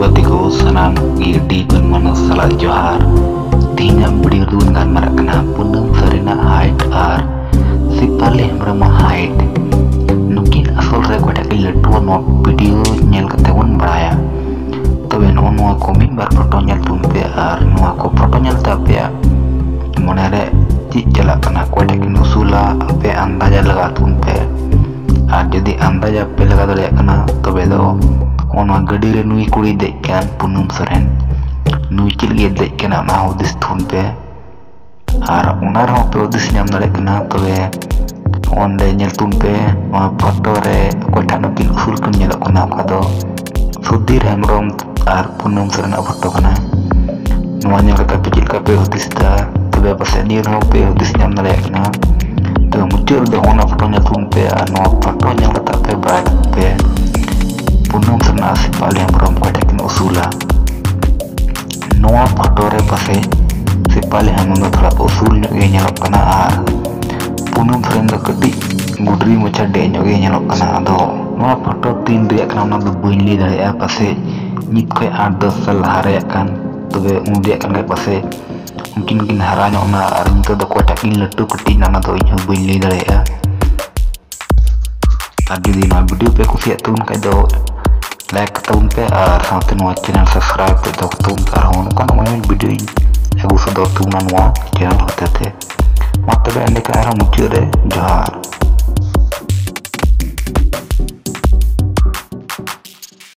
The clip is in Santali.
ᱜᱟᱛᱮ ᱠᱚ ᱥᱟᱱᱟᱢ ᱜᱮ ᱟᱹᱰᱤ ᱜᱩᱱ ᱢᱟᱱᱟᱣ ᱥᱟᱞᱟᱜ ᱡᱚᱦᱟᱨ ᱛᱮᱦᱮᱧᱟᱜ ᱵᱷᱤᱰᱤᱭᱳ ᱨᱮᱫᱚ ᱵᱚᱱ ᱜᱟᱞᱢᱟᱨᱟᱜ ᱠᱟᱱᱟ ᱯᱩᱱᱟᱢ ᱥᱟᱨᱤᱱᱟᱜ ᱦᱟᱭᱤᱴ ᱟᱨ ᱥᱤᱯᱟᱞᱤ ᱦᱮᱢᱵᱨᱚᱢᱟᱜ ᱦᱟᱭᱤᱴ ᱱᱩᱠᱤᱱ ᱟᱥᱚᱞ ᱨᱮ ᱚᱠᱟᱴᱟᱜ ᱜᱮ ᱞᱟᱹᱴᱩᱣᱟ ᱱᱚᱣᱟ ᱵᱷᱤᱰᱤᱭᱳ ᱧᱮᱞ ᱠᱟᱛᱮ ᱵᱚᱱ ᱵᱟᱲᱟᱭᱟ ᱛᱚᱵᱮ ᱱᱚᱜᱼᱚ ᱱᱚᱣᱟ ᱠᱚ ᱢᱤᱫ ᱵᱟᱨ ᱯᱷᱳᱴᱳ ᱧᱮᱞ ᱛᱟᱵᱚᱱ ᱯᱮ ᱟᱨ ᱱᱚᱣᱟ ᱠᱚ ᱯᱷᱳᱴᱳ ᱧᱮᱞ ᱛᱮ ᱟᱯᱮᱭᱟᱜ ᱢᱚᱱᱮᱨᱮ ᱪᱮᱫ ᱪᱟᱞᱟᱜ ᱠᱟᱱᱟ ᱚᱠᱚᱭᱴᱟᱜ ᱠᱤᱱ ᱩᱥᱩᱞᱟ ᱟᱯᱮ ᱟᱱᱫᱟᱡᱟ ᱞᱟᱜᱟᱣ ᱛᱟᱵᱚᱱ ᱯᱮ ᱟᱨ ᱡᱩᱫᱤ ᱟᱱᱫᱟᱡᱟ ᱯᱮ ᱞᱟᱜᱟᱣ ᱫᱟᱲᱮᱭᱟᱜ ᱠᱟᱱᱟ ᱛᱚᱵᱮ ᱫᱚ ᱚᱱᱟ ᱜᱟᱹᱰᱤ ᱨᱮ ᱱᱩᱭ ᱠᱩᱲᱤ ᱫᱮᱡ ᱠᱟᱱ ᱯᱩᱱᱩᱢ ᱥᱚᱨᱮᱱ ᱱᱩᱭ ᱪᱮᱫ ᱞᱟᱹᱜᱤᱫ ᱫᱮᱡ ᱠᱟᱱᱟ ᱚᱱᱟ ᱦᱩᱫᱤᱥ ᱛᱷᱩᱱ ᱯᱮ ᱟᱨ ᱚᱱᱟ ᱨᱮᱦᱚᱸ ᱯᱮ ᱦᱩᱫᱤᱥ ᱧᱟᱢ ᱫᱟᱲᱮᱭᱟᱜ ᱠᱟᱱᱟ ᱛᱚᱵᱮ ᱚᱸᱰᱮ ᱧᱮᱞ ᱛᱩᱱ ᱯᱮ ᱱᱚᱣᱟ ᱯᱷᱳᱴᱳ ᱨᱮ ᱚᱠᱚᱭᱴᱟᱜ ᱱᱩᱠᱤᱱ ᱩᱥᱩᱞ ᱠᱤᱱ ᱧᱮᱞᱚᱜ ᱠᱟᱱᱟ ᱚᱠᱟ ᱫᱚ ᱥᱩᱫᱷᱤᱨ ᱦᱮᱢᱵᱨᱚᱢ ᱟᱨ ᱯᱩᱱᱚᱢ ᱥᱚᱨᱮᱱᱟᱜ ᱯᱷᱳᱴᱳ ᱠᱟᱱᱟ ᱱᱚᱣᱟ ᱧᱮᱞ ᱠᱟᱛᱮ ᱟᱯᱮ ᱪᱮᱫ ᱞᱮᱠᱟ ᱯᱮ ᱦᱩᱫᱤᱥ ᱮᱫᱟ ᱛᱚᱵᱮ ᱯᱟᱥᱮᱡ ᱱᱤᱭᱟᱹ ᱨᱮᱦᱚᱸ ᱯᱮ ᱦᱩᱫᱤᱥ ᱧᱟᱢ ᱫᱟᱲᱮᱭᱟᱜ ᱠᱟᱱᱟ ᱛᱚᱵᱮ ᱢᱩᱪᱟᱹᱫ ᱨᱮᱫᱚ ᱚᱱᱟ ᱯᱷᱳᱴᱳ ᱧᱮᱞ ᱛᱟᱵᱚᱱ ᱯᱮ ᱟᱨ ᱱᱚᱣᱟ ᱯᱷᱳᱴᱳ ᱧᱮᱞ ᱠᱟᱛᱮ ᱟᱯᱮ ᱵᱟᱲᱟᱭ ᱛᱟᱵᱚᱱ ᱯᱮ ᱯᱩᱱᱚᱢ ᱥᱚᱨᱮᱱᱟᱜ ᱥᱮ ᱯᱟᱞᱮ ᱦᱮᱢᱵᱨᱚᱢ ᱚᱠᱚᱭᱴᱟᱜ ᱠᱤᱱ ᱩᱥᱩᱞᱟ ᱱᱚᱣᱟ ᱯᱷᱳᱴᱳ ᱨᱮ ᱯᱟᱥᱮ ᱥᱮᱯᱟᱞᱤ ᱦᱟᱱᱩ ᱫᱚ ᱛᱷᱚᱲᱟ ᱩᱥᱩᱞ ᱧᱚᱜ ᱜᱮ ᱧᱮᱞᱚᱜ ᱠᱟᱱᱟ ᱟᱨ ᱯᱩᱱᱩᱢ ᱥᱚᱨᱮᱱ ᱫᱚ ᱠᱟᱹᱴᱤᱡ ᱜᱩᱰᱨᱤ ᱢᱚᱪᱟ ᱰᱮ ᱧᱚᱜ ᱜᱮ ᱧᱮᱞᱚᱜ ᱠᱟᱱᱟ ᱟᱫᱚ ᱱᱚᱣᱟ ᱯᱷᱳᱴᱳ ᱛᱤᱱ ᱨᱮᱭᱟᱜ ᱠᱟᱱᱟ ᱚᱱᱟ ᱫᱚ ᱵᱟᱹᱧ ᱞᱟᱹᱭ ᱫᱟᱲᱮᱭᱟᱜᱼᱟ ᱯᱟᱥᱮ ᱱᱤᱛ ᱠᱷᱚᱡ ᱟᱴ ᱫᱚᱥ ᱥᱟᱞ ᱞᱟᱦᱟ ᱨᱮᱭᱟᱜ ᱠᱟᱱ ᱛᱚᱵᱮ ᱩᱱ ᱨᱮᱭᱟᱜ ᱠᱟᱱ ᱠᱷᱟᱡ ᱯᱟᱥᱮ ᱩᱱᱠᱤᱱ ᱠᱤᱱ ᱦᱟᱨᱟ ᱧᱚᱜ ᱱᱟ ᱟᱨ ᱱᱤᱛᱚᱜ ᱫᱚ ᱚᱠᱚᱭᱴᱟᱜ ᱠᱤᱱ ᱞᱟᱹᱴᱩ ᱠᱟᱹᱴᱤᱡ ᱱᱟ ᱚᱱᱟ ᱫᱚ ᱤᱧ ᱦᱚᱸ ᱵᱟᱹᱧ ᱞᱟᱹᱭ ᱫᱟᱲᱮᱭᱟᱜᱼᱟ ᱟᱨ ᱡᱩᱫᱤ ᱱᱚᱣᱟ ᱵᱷᱤᱰᱤᱭᱳ ᱯᱮ ᱠᱩᱥᱤᱭᱟᱜ ᱛᱟᱵᱚᱱ ᱠᱷᱟᱡ ᱫᱚ ᱞᱟᱭᱤᱠ ᱛᱟᱵᱚᱱ ᱯᱮ ᱟᱨ ᱥᱟᱶᱛᱮ ᱱᱚᱣᱟ ᱪᱮᱱᱮᱞ ᱥᱟᱵᱥᱠᱨᱟᱭᱤᱵ ᱛᱮ ᱫᱚᱦᱚ ᱛᱟᱵᱚᱱ ᱯᱮ ᱟᱨᱦᱚᱸ ᱱᱚᱝᱠᱟᱱ ᱢᱚᱡᱽ ᱢᱚᱡᱽ ᱵᱷᱤᱰᱤᱭᱳᱧ ᱟᱹᱜᱩ ᱥᱚᱫᱚᱨ ᱛᱟᱵᱚᱱᱟ ᱱᱚᱣᱟ ᱪᱮᱱᱮᱞ ᱦᱚᱛᱮ ᱛᱮ ᱢᱟ ᱛᱚᱵᱮ ᱮᱸᱰᱮᱠᱷᱟᱱ ᱟᱨᱦᱚᱸ ᱢᱩᱪᱟᱹᱫ ᱨᱮ ᱡᱚᱦᱟᱨ